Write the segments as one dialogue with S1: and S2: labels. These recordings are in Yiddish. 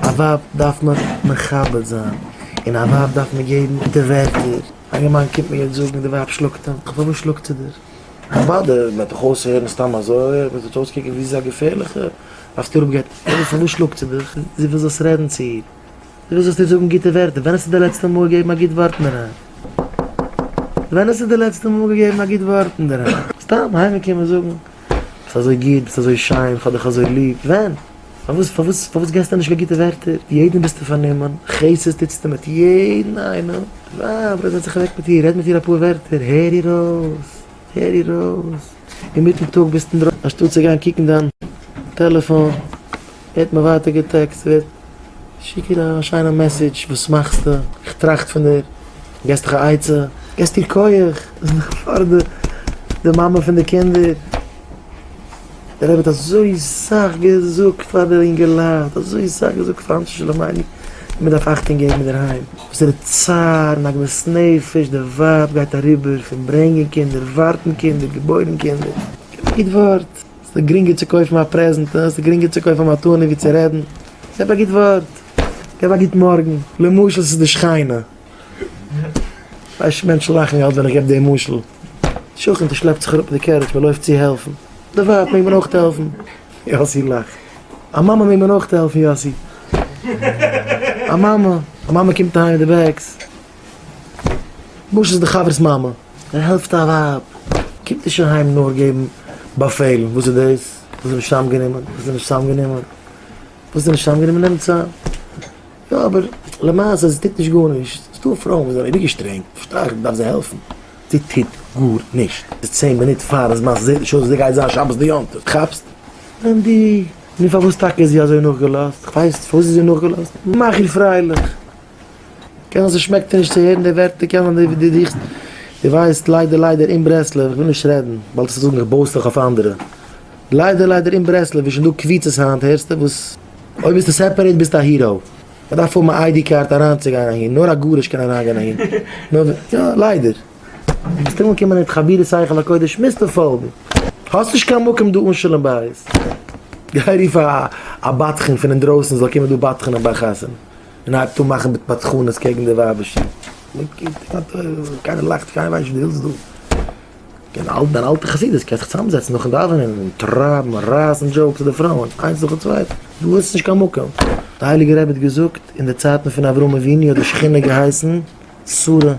S1: א ווייב דארף מען מכבד זיין, און א ווייב דארף מען געבן די ווערטער, א יונגערמאן קומט מיר יעצט זאגן די ווייב שלאגט אים, פארוואס שלאגט זי דיר? כבוד, ער וועט דיך אויסהערן סתם אזוי, ער וועט זיך אויסקוקן ווי זי איז א געפערליכע, דארפסטו אראפגיין, אדער פארוואס שלאגט זי דיך? זי וויל זאלסט רעדן צו איר, זי וויל זאלסט איר זאגן גוטע ווערטער, ווען האסטו די לעצטע מאל געגעבן א גוט ווארט אין ארום? ווען האסטו די לעצטע מאל געגעבן א גוט ווארט אין ארום? סתם היימיגע קומען זאגן ביסט אזוי גוט, ביסט אזוי שיין, כ'האב דיך אזוי ליב, ווען? פארוואס פארוואס פארוואס געסטו נישט קיין גוטע ווערטער? יעדן ביסטו פארנומען, חסד טוטסטו מיט יעדן איינעם, די ווייב רעד זיך אוועק מיט איר, רעד מיט איר אפאר ווערטער, הער איר אויס, הער איר אויס, אינמיטן טאג ביסטו אינדרויסן אנשטאט צו גיין קוקן דיין טעלעפאן, ווערט מען ווייטער געטעקסט, שיק איר א שיינע מעסעדזש, וואס מאכסטו? איך טראכט פון דיר, געסט זיך א עצה, געסט איר כח, דאס איז דאך פאר די מאמע פון די קינדער. דער רבי האט אזוי סאך געזאגט פאר די אינגעלייט, אזוי סאך געזאגט פאר אנשי שלום עלי', ווי מען דארף אכטונג געבן אינדערהיים, וואס איז די צער און עגמת נפש די ווייב גייט אריבער, פון ברענגען קינדער, ווארטן קינדער, געבוירן קינדער. קיין גוט ווארט, עס איז גרינגער צו קויפן א פרעזענט, עס איז גרינגער צו קויפן א מתנה ווי צו רעדן, געב א גוט ווארט, געב א גוט מארגן, למשל ס'איז די שכינה, ווייסט נישט מענטשן לאכן אלץ ווען איך געב די משל. שכן די שלעפט זיך אראפ מיט די קערידזש מ'לויפט צו העלפן, די ווייב מעג מען אויך העלפן? יאסי לאכט, א מאמע מעג מען אויך העלפן? יאסי, א מאמע, א מאמע קומט אהיים מיט די בעגס, וואס איז די חבר'ס מאמע? ער העלפט א ווייב, קומט נישט אהיים נאר געבן באפעלן, וואס איז דאס? וואס איז נישט צוזאמגענומען? וואס איז נישט צוזאמגענומען? וואס איז נישט צוזאמגענומען? נעמטס א. יא אבער למעשה זי טוט נישט גארנישט, ס'איז דא פרויען וואס זענען אייביג שטרענג, פארשטיי איך מ'דארף זיי העלפן, זי טוט גארנישט, ס'איז צען מינוט פארן זמן, ס'זעט נישט אויס ווי זי גייט זיין שבת ויום טוב, כאפסט? ווען די. נו פארוואס טאקע איז זי אזוי נאכגעלאזט? כ'ווייס פארוואס איז זי נאכגעלאזט, מאך איר פרייליך, קען זיין ס'שמעקט דיר נישט צו הערן די ווערטער, קען זיין די די דיכסט, די ווייסט ליידער ליידער אין ברסלב, כ'וויל נישט רעדן, באלד וועסטו זאגן איך בויס דיך אויף אנדערע, ליידער ליידער אין ברסלב איז שוין דא קביצות היינט הערסטו וואס. אויב ביסטו סעפערעיט ביסטו א היראו. מ'דארף האבן א איידי קארד אריינצוגיין אהין, נאר א גרוש קען אריינגיין אהין. יא, ליידער. ביסט אנגעקומען אין התחבירות היכל הקודש מוזטו פאלגן. האסט נישט קיין מקום דא אן שלום בית. גיי רוף א א בדחן פון אינדרויסן זאל קומען דא בדחנ'ען ביי חתונה. און הייבט אן מאכן בדחנות קעגן די ווייבער שיך. קיינער לאכט, קיינער ווייסט נישט וואס דו ווילסט דא. און אלט דיין אלטע חסידות קען זיך צוזאם זעצן נאכן דאווענען און טרייבן און רייסן דזשאוקס אויף די פרויען איינס נאכן צווייטן, דא איז עס נישט קיין מקום. די הייליגע רבי האט געזאגט אין די צייטן פון אברהם אבינו האט די שכינה געהייסן שרה, אין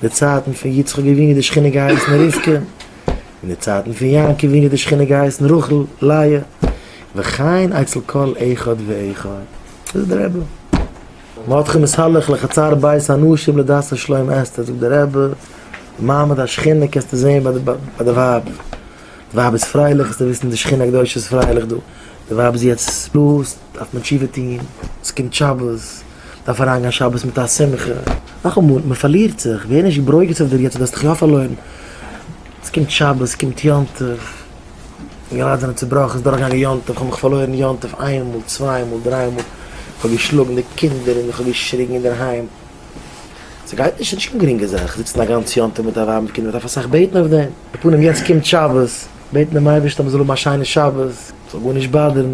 S1: די צייטן פון יצחק אבינו האט די שכינה געהייסן רבקה, אין די צייטן פון יעקב אבינו האט די שכינה געהייסן רחל, לאה, וכן אצל כל אחד ואחד. דאס איז דער רבי. ואתכם אסלח לחצר בית הנשים לדעת השלום אסתר, זאגט די רבי, מעמד השכינה קענסטו זעהן ביי די ווייב, די ווייב איז פרייליך אז די וויסן די שכינה הקדושה איז פרייליך דא, די ווייב איז יעצט לאז, דארף מען תשובה טוהן, עס קומט שבת, דארף אריינגיין שבת מיט א שמחה, נאכאמאל מען פארלירט זיך, ווער נישט ברוגז אויף דיר יעצט, דו האסט דיך יא פארלוירן, עס קומט שבת, עס קומט יום טוב. די געלייט זענען צובראכן, ס'איז דורך געגאנגען יום טוב, כ'האב מיך פארלוירן יום טוב איין מאל, צוויי מאל, דריי מאל, כ'האב געשלאגן די קינדער און איך האב געשריגן אינדערהיים, ס'גייט נישט, ס'איז נישט קיין גרינגע זאך זיצן א גאנץ יום טוב מיט א ווייב מיט קינדער, מ'דארף אסאך בעטן אויף דעם, די פנים יעצט קומט שבת, בעטן דעם אייבערשטן אז מ'זאל האבן א שיינע שבת, ס'זאל גארנישט באדערן.